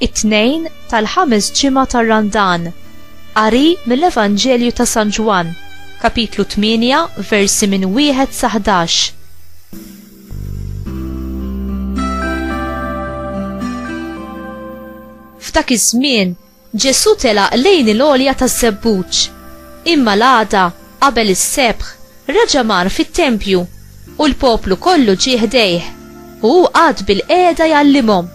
it-tnejn tal-ħames ġimgħa tar-Randan. Qari mill-Evanġelju ta' San Ġwann, kapitlu 8, versi minn wieħed sa 11. F'dak iż-żmien, Ġesù telaq lejn il-għolja taż-żebbuġ. Imma l-għada, qabel is-sebħ, raġa' mar fit-tempju u l-poplu kollu ġie ħdejh u hu qagħad bil-qiegħda jgħallimhom.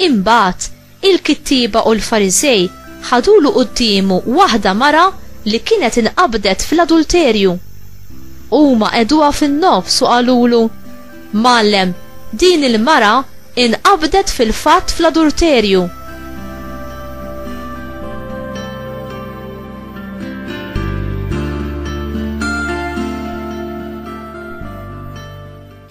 Imbagħad Il-kittieba u l-Fariżej ħadulu quddiemu waħda mara li kienet inqabdet fl-adulterju. Huma qegħduha fin-nofs u qalulu, Mgħallem, din il-mara inqabdet fil-fatt fl-adulterju.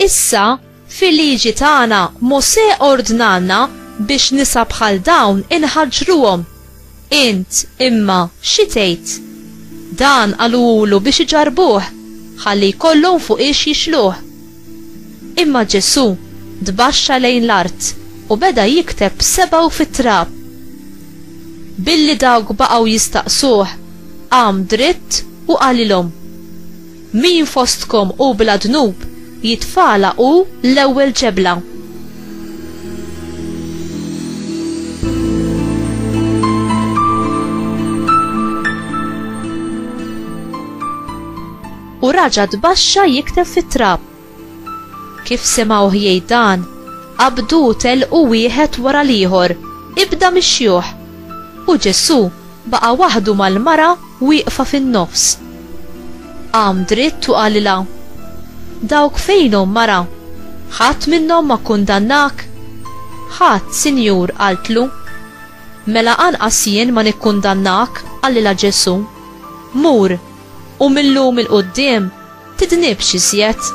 Issa, Fil-Liġi tagħna, Mosè ordnalna biex nisa bħal dawn inħaġġruhom. Int, imma, xi tgħid? Dan qaluhulu biex iġarrbuh, ħalli jkollhom fuqiex jixluh. Imma Ġesù tbaxxa lejn l-art u beda jikteb b'sebgħu fit-trab. Billi dawk baqgħu jistaqsuh, qam dritt u qalilhom. Min fostkom hu bla dnub, jitfagħalha hu l-ewwel ġebla. U raġa' tbaxxa jikteb fit-trab. Kif semgħuh jgħid dan, qabdu u telqu wieħed wara l-ieħor, ibda mix-xjuħ. U Ġesù baqa' waħdu mal-mara wieqfa fin-nofs. Qam dritt u qalilha, Dawk fejnhom, mara? Ħadd minnhom ma kkundannak? Ħadd, Sinjur, qaltlu. Mela anqas jien ma nikkundannak, qalilha Ġesù. Mur! U mil-lum il-qoddim tidnibx iżjed.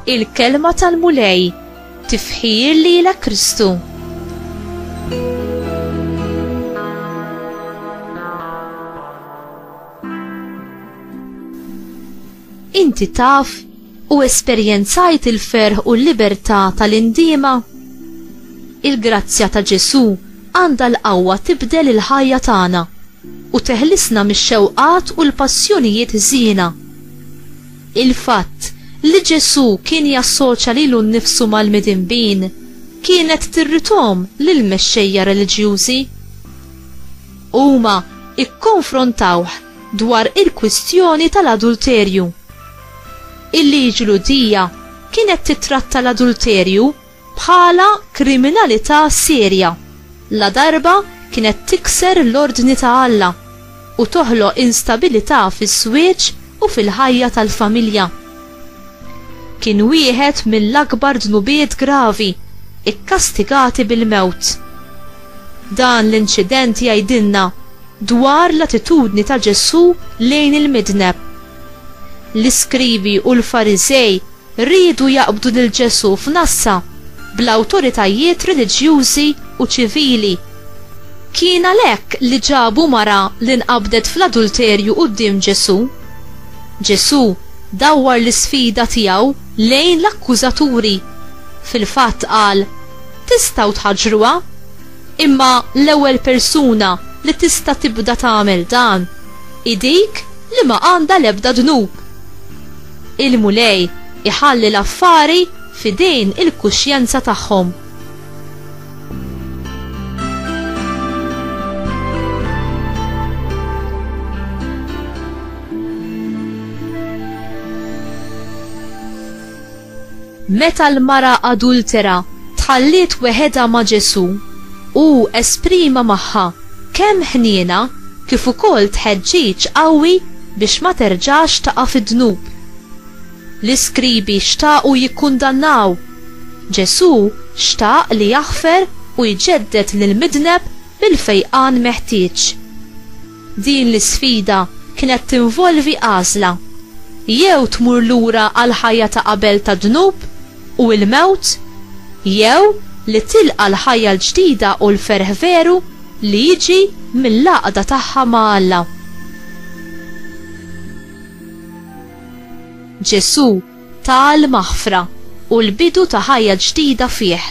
il-kelma tal-Mulej, tifħir li la Kristu. Inti taf U esperjenzajt il-ferħ u l-libertà tal-indiema? Il-grazzja ta' Ġesù għandha l-qawwa tibdel il-ħajja tagħna u teħlisna mix-xewqat u l-passjonijiet ħżiena. Il-fatt li Ġesù kien jassoċja lilu nnifsu mal-midinbin kienet tirridhom lill-mexxejja reliġjużi. Huma kkonfrontawh dwar il-kwistjoni tal-adulterju. Il-liġi Lhudija kienet tittratta l-adulterju bħala kriminalità serja ladarba kienet tikser l-ordni ta' Alla u toħloq instabilità fiż-żwieġ u fil-ħajja tal-familja. Kien wieħed mill-akbar dnubiet gravi kkastigati bil-mewt. Dan l-inċident jgħidilna dwar l-attitudni ta' Ġesù lejn il-midneb. L-iskrivi u l-Fariżej riedu jaqbdu lil Ġesù f'nassa bl-awtoritajiet reliġjużi u ċivili. Kien għalhekk li ġabu mara li nqabdet fl-adulterju quddiem Ġesù. Ġesù dawwar l-isfida tiegħu lejn l-akkużaturi. Fil-fatt qal, Tistgħu tħaġġruha? Imma l-ewwel persuna li tista' tibda tagħmel dan hi dik li ma għandha l-ebda dnub. Il-Mulej iħalli l-affari f'idejn il-kuxjenza tagħhom. Meta l-mara adultera tħalliet weħedha ma' Ġesù, hu esprima magħha kemm ħniena kif ukoll tħeġġiġ qawwi biex ma terġax taqa' fid-dnub. L-iskribi xtaqu jikkundannaw, Ġesù xtaq li jaħfer u jġedded lill-midneb bil-fejqan meħtieġ. Din l-isfida kienet tinvolvi għażla, jew tmur lura għall-ħajja ta' qabel tad-dnub u l-mewt, jew li tilqa' l-ħajja l-ġdida u l-ferħ veru li jiġi mill-għaqda tagħha ma' Alla. Ġesù ta' l-maħfra u l-bidu ta' ħajja ġdida fih.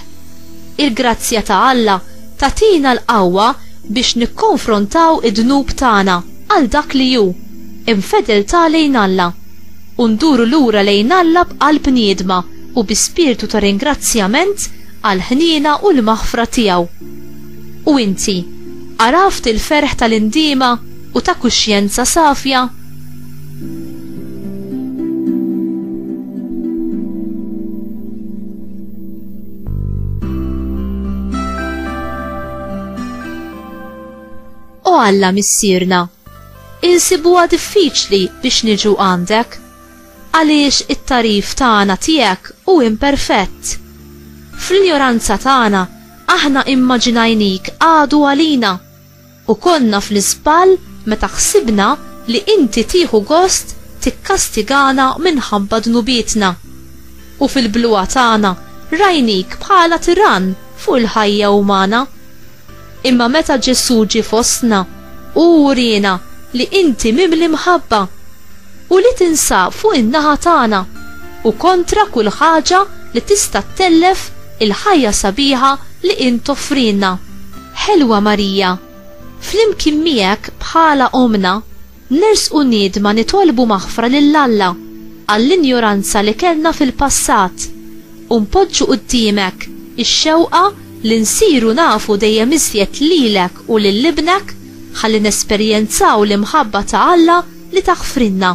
Il-grazzja ta' Alla tagħtina l-qawwa biex nikkonfrontaw id-dnub tagħna għal dak li hu, infedeltà lejn Alla, u nduru lura lejn Alla b'qalb niedma u bi spirtu ta' ringrazzjament għall-ħniena u l-maħfra tiegħu. U inti, għaraft il-ferħ ta' l-indiema u ta' kuxjenza safja? O Alla missierna, insibuha diffiċli biex niġu għandek, għaliex it-tarif tagħna tiegħek u imperfett. Fl-injoranza tagħna aħna immaġinajnik għadu għalina U konna fl-iżball meta ħsibna li Inti tieħu gost tikkastigana minħabba dnubietna. U fil-bluha tagħna rajnik bħala tirann fuq il-ħajja umana. Imma meta Ġesù ġie fostna, Hu wriena li Inti mimli mħabba, u li tinsab fuq in-naħa tagħna, u kontra kull ħaġa li tista' ttellef il-ħajja sabiħa li Int toffrilna. Ħelwa Marija, flimkien miegħek bħala Ommna, nersqu niedma nitolbu maħfra lil Alla għall-injoranza li kellna fil-passat u npoġġu quddiemek ix-xewqa li nsiru nafu dejjem iżjed lilek u lil Ibnek ħalli nesperjenzaw l-imħabba ta' Alla li taħfrilna.